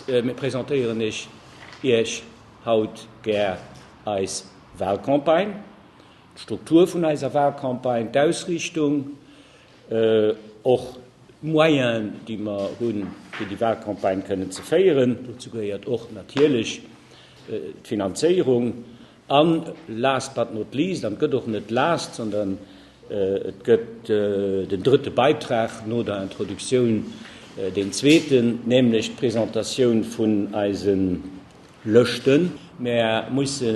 Mir presentéieren ech Iech haut gär eis Wahlcampagne, d'Struktur vun eiser Wahlcampagne, d'Ausriichtung, och d'Moyenen, déi mer hunn, fir déi Wahlcampagne kënnen ze féieren. Dozou gehéiert och natierlech d'Finanzéierung. An last but not least, an et gëtt och net last, sondern et gëtt den drëtte Beitrag no der Introduktioun, deen zweeten, nämlech d'Presentatioun vun eise Lëschten. Mer musse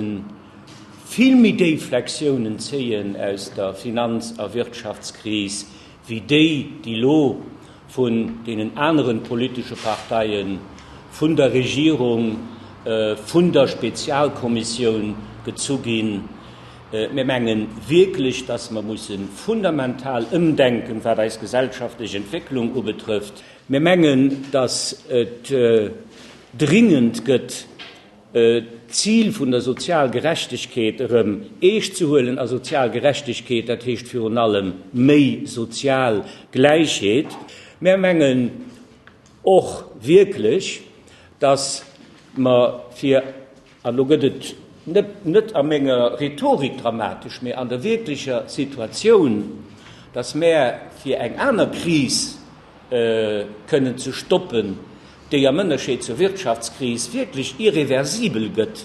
vill méi déif Lektiounen zéien aus der Finanz a Wirtschaftskris, wéi déi, déi elo vun deenen aneren politesche Parteien, vun der Regierung, vun der Spezialkommissioun gezu ginn. Mir menge wierklech, dass mer musse fundamental ëmdenken, wat eis gesellschaftlech Entwécklung ubetrëfft. Mir mengen, dass et dringend gëtt, D'Zil vun der Sozialgerechtegkeet erëm eescht ze huelen, a sozial Gerechtegkeet, dat heescht virun allem méi sozial Gläichheet. Mär mengen och wierklech, datt mer fir, an elo gëtt et net a menger Rhetorik dramatesch, mee an der wierklecher Situatioun, datt mär fir eng aner Kris kënnen ze stoppen, déi am Ënnerscheed zur Wirtschaftskris wierklech irreversibel gëtt,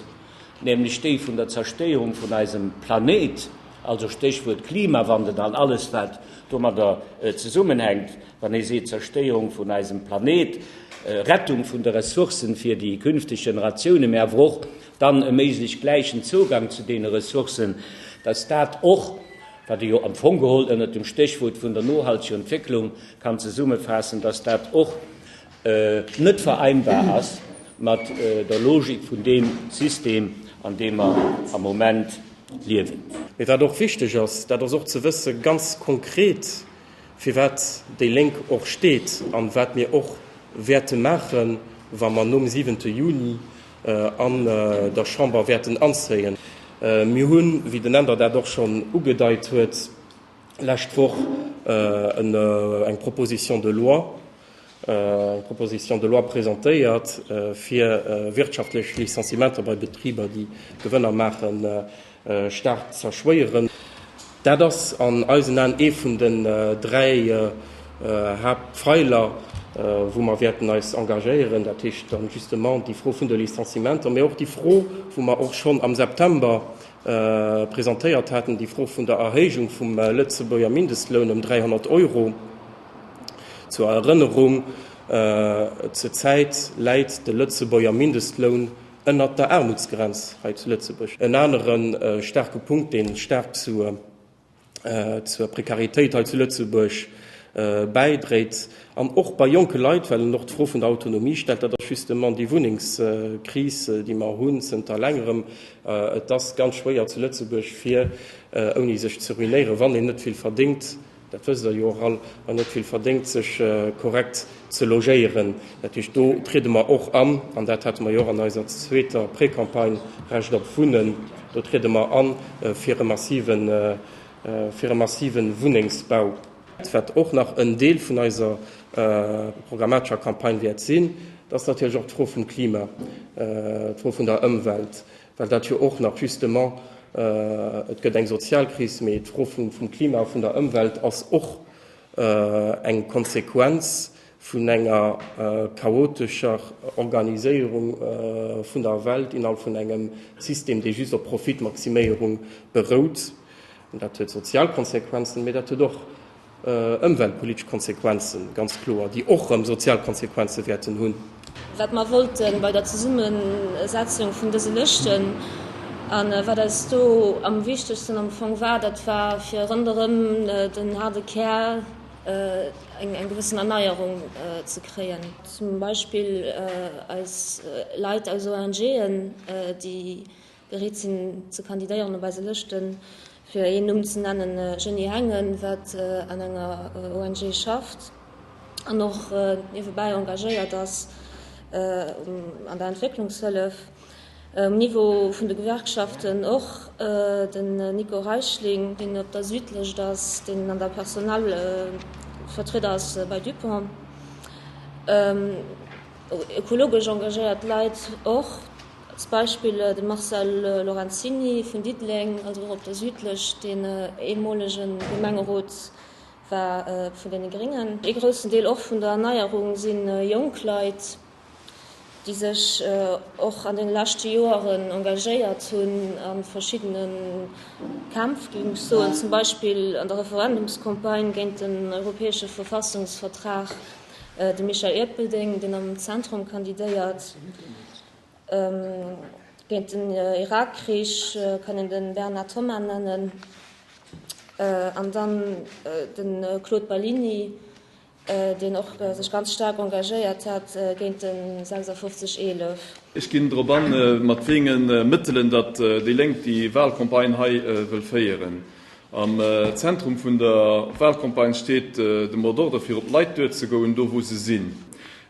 nämlech déi vun der Zerstéierung vun eisem Planéit, also Stéchwuert Klimawandel an alles, wat domadder zesummenhänkt, wann ee seet, Zerstéierung vun eisem Planéit, Rettung vun de Ressourcen fir déi künfteg Generatiounen, mä awer och dann e méiglech gläichen Zougang zu deene Ressourcen, dass dat och wat ee jo am Fong geholl ënnert dem Stéchwuert vun der nohalteger Entwécklung kann zesummefaassen, dass dat och net vereinbar ass mat der Logik vun deem System, an deem mer am Moment liewen. Mee wat och wichteg ass, dat ass och ze wëssen, ganz konkret, firwat déi Lénk och steet a wat mir och wäerte maachen, wa mer nom siwente Juni an der Chamber wäerten anzéien. Mir hunn, wéi den Änder dat och schonn ugedeit huet, lescht Woch eng Proposition de loi, eng Proposition de loi presentéiert, fir wirtschaftlech Licenciementer bei Betriber, déi Gewënner maachen, staark z'erschwéieren. Dat ass an eisen Aen ee vun den dräi Haaptpfeiler, wou mer wäerten eis engagéieren, dat heescht dann justement déi Fro vun de Licenciementer, mä och déi Fro, wou mer och schonn am September presentéiert haten, déi Fro vun der Erhéijung vum Lëtzebuerger Mindestloun ëm 300 Euro. Zur Erënnerung, Zur Zäit läit de Lëtzebuerger Mindestloun ënnert der Aarmutsgrenz hei zu Lëtzebuerg. En anere staarke Punkt, dee staark zur Prekaritéit hei zu Lëtzebuerg bäidréit, an och bei jonke Leit, well en och d'Fro vun der Autonomie stellt, dat ass justement déi Wunnengskris, déi mer hunn zënter längerem. Et ass ganz schwéier zu Lëtzebuerg, fir ouni sech ze ruinéieren, wann een net vill verdéngt, Dat wësst Der jo och all. An net vill verdéngt, sech korrekt ze logéieren. Dat heescht, do triede mer och an, an dat hate mer jo och an eiser zweeter Précampagne Recht op Wunnen, do triede mer a fir e massive, fir e massive Wunnengsbau. Wat och nach en Deel vun eiser programmatescher Campagne wäert sinn, dat ass natierlech och d'Fro vum Klima, d'Fro vun der Ëmwelt. well dat jo och nach justement, et gëtt eng Sozialkris, mee d'Fro vum Klima a vun der Ëmwelt ass och eng Konsequenz vun enger chaotescher Organiséierung vun der Welt innerhalb vun engem System, dee just op Profitmaximéierung berout. Dat huet sozial Konsequenzen, mee dat huet och, ëmweltpolitesch Konsequenzen, ganz kloer, déi och erëm sozial Konsequenze wäerten hunn. Wat mer wollte bei der Zesummesetzung vun dëse Lëschten a wat eis do am wichtegsten am Fong war, dat war, fir ronderëm den haarde Kär eng gewëssen Erneierung ze kréien. Zum Beispill eis Leit aus ONGen, déi. Bereet sinn ze kandidéieren op eise Lëschten. Fir een Numm ze nennen, Jeanny Hengen, wat an enger ONG schafft an och niewebäi engagéiert ass an der Entwécklungshëllef. Um Niveau vun de Gewerkschaften och den Nico Reichling, deen op der Südlëscht ass, deen an der Personalvertrieder ass bei Dupont. Ökologesch engagéiert Leit och. Als Beispill de Marcel Lorenzini vun Diddeleng, also och op der Südlech, deen eemolege Gemengerot war vun deene Gréngen. Ee groussen Deel och vun der Erneierung si jonk Leit, déi sech och an deene leschte Joeren engagéiert hunn a verschiddene Kämpf, géif ech soen, zum Beispill an der Referendumscampagne géint den europäesche Verfassungsvertrag, de Michel Erpelding, deen am Zentrum kandidéiert. Géint den Irakkrich kann een den Bernard Thomas nennen an dann den Claude Ballini, deen och sech ganz staark engagéiert hat géint den 56 11. Ech ginn drop an, mat wéinge Mëttelen datt déi Lénk déi Wahlcampagne hei wëll féieren. Am Zentrum vun der Walcampagne steet de Mot d'ordre fir op d'Leit duer ze goen, do wou se sinn.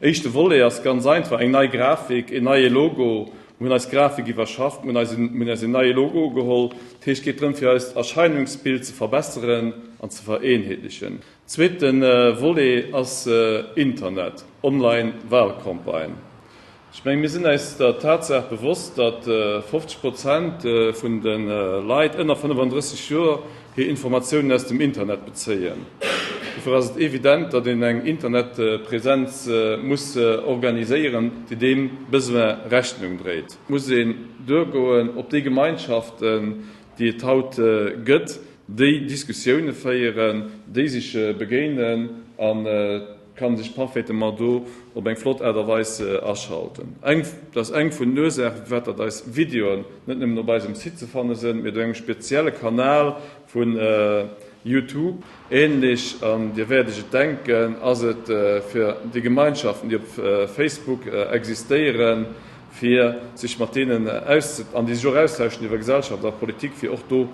Éischte Volet ass ganz einfach, eng nei Grafik, een neie Logo. Mir hunn eis Grafik iwwerschafft, mir hunn eis een neie Logo ugeholl. Dat heescht, et geet drëm fir eist Erscheinungsbild ze verbesseren an ze vereenheetlechen. Zweete Volet ass Internet, Online Walcampagne. Ech mengen, mir sinn eis der Tatsaach bewosst, datt 50 Prozent vun de Leit ënner 35 Joer hir Informatiounen aus dem Internet bezéien. Dofir ass et evident, datt een eng Internetpräsenz muss organiséieren, déi deem Besoin Rechnung dréit. Et muss een duergoen op déi Gemeinschaften, déi et haut gëtt, déi Diskussioune féieren, déi sech begéinen an, kann sech parfaitement do op eng flott Aart a Weis aschalten. Dat ass eng vun den Ursaachen, firwat datt eis Videoen net nëmmen op eisem Site ze fanne sënn, mee do engem spezielle Kanal vu Youtube ähnlech. An Dir wäert Iech et denken, ass et fir déi Gemeinschaften, déi op Facebook existéieren, fir sech mat deenen auszet an déi sech och austauschen iwwer Gesellschaft a Politik, fir och do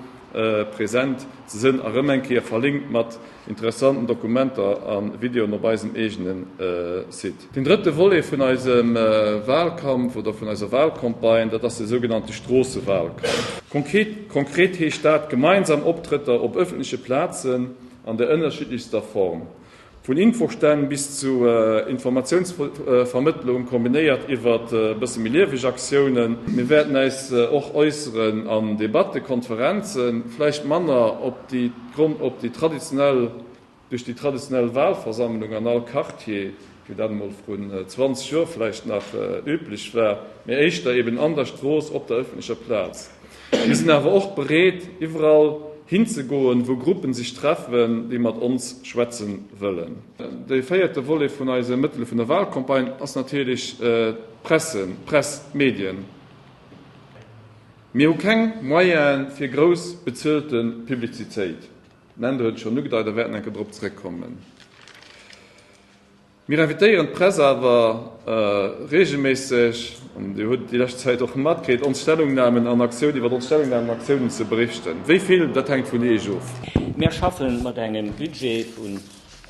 präsent ze sënn a rëm eng Kéier verlinkt mat. interessanten Dokumenter a Videoen op eisem eegene Site. Den drëtte Volet vun eisem Wahlkampf oder vun eiser Wahlcampagne, dat ass de sougenannte Stroossewahlkampf. Konkret heescht dat, gemeinsam Optrëtter op ëffentleche Plazen an der ënnerschiddlechster Form, vun Infostänn bis zu Informatiounsvermëttlung, kombinéiert iwwert bësse méi lieweg Aktiounen. Mir wäerten äis och äusseren an Debatten, Konferenzen, vläicht manner op déi. D'Gronn op déi traditionell, duerch déi traditionell Walversammlung an all Quartier, wéi dat emol vrun 20 Joer vläicht nach üblech war, mee éischter eben an der Strooss, op der öffentlecher Plaz. Mir sinn awer och bereet, iwwerall hinzegoen, wou Gruppen sech treffen, déi mat ons schwätzen wëllen. Dee véierte Volet vun eise Mëttele vun der Walcampagne ass natierlech d'Presse, d'Press, d'Medien. Mir hu keng Moyene fir grouss bezuelte Publizitéit, den Andrew huet et schonn ugedeit a wäerten enker drop zeréckkommen. Mir invitéieren d'Press awer reegelméisseg, an Dir hutt déi lescht Zäit och matkritt, ons Stellungnamen an Aktiounen, iwwer ons Stellungnamen an Aktiounen ze berichten. Wéi vill, dat hänkt vun Iech of. Mir schaffe mat engem Budget vun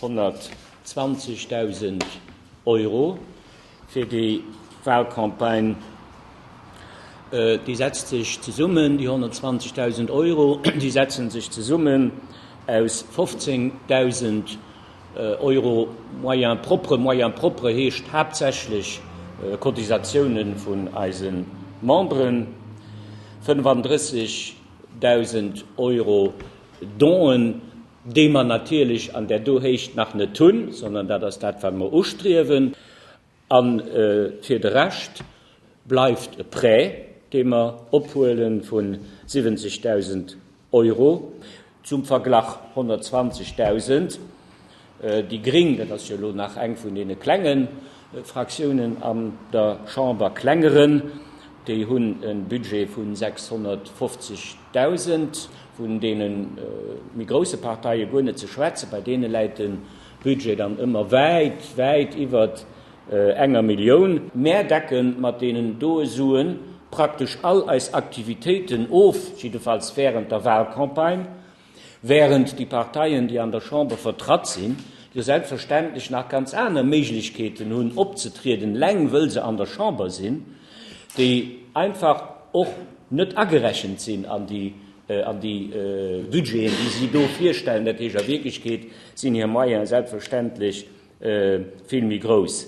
120.000 Euro. fir déi Wahlcampagne, déi setzt sech zesummen, déi 120.000 Euro, déi setzen sech zesummen aus 15.000 Euro Moyens propres, Moyens propres heescht haaptsächlech Cotisatioune vun eise Memberen, 35.000 Euro Donen. déi mer natierlech an där do Héicht nach net hunn, sondern dat ass dat, wat mer ustriewen. A fir de Rescht bleift e Prêt, dee mer ophuele vu 70.000 Euro, zum Verglach 120.000. Déi gréng, dat ass jo elo nach eng vun deene klenge Fraktiounen an der Chamber, klengeren, déi hunn e Budget vu 650.000. Dausend, vun deene méi grousse Parteie guer net ze schwätzen, bei deene läit de Budget dann ëmmer wäit, wäit iwwert enger Millioun. Mär decken mat deenen doe Sue praktesch all eis Aktivitéiten of, jiddefalls während der Wahlcampagne, während déi Parteien, déi an der Chamber vertratt sinn, jo selbstverständlech nach ganz aner Méiglechkeeten hunn, opzetrieden, eleng wëll se an der Chamber sinn. déi einfach och net agerechent sinn an déi Budgeten, déi si do virstellen, dat heescht a Wierklechkeet sinn hir Moyene selbstverständlech vill méi grouss.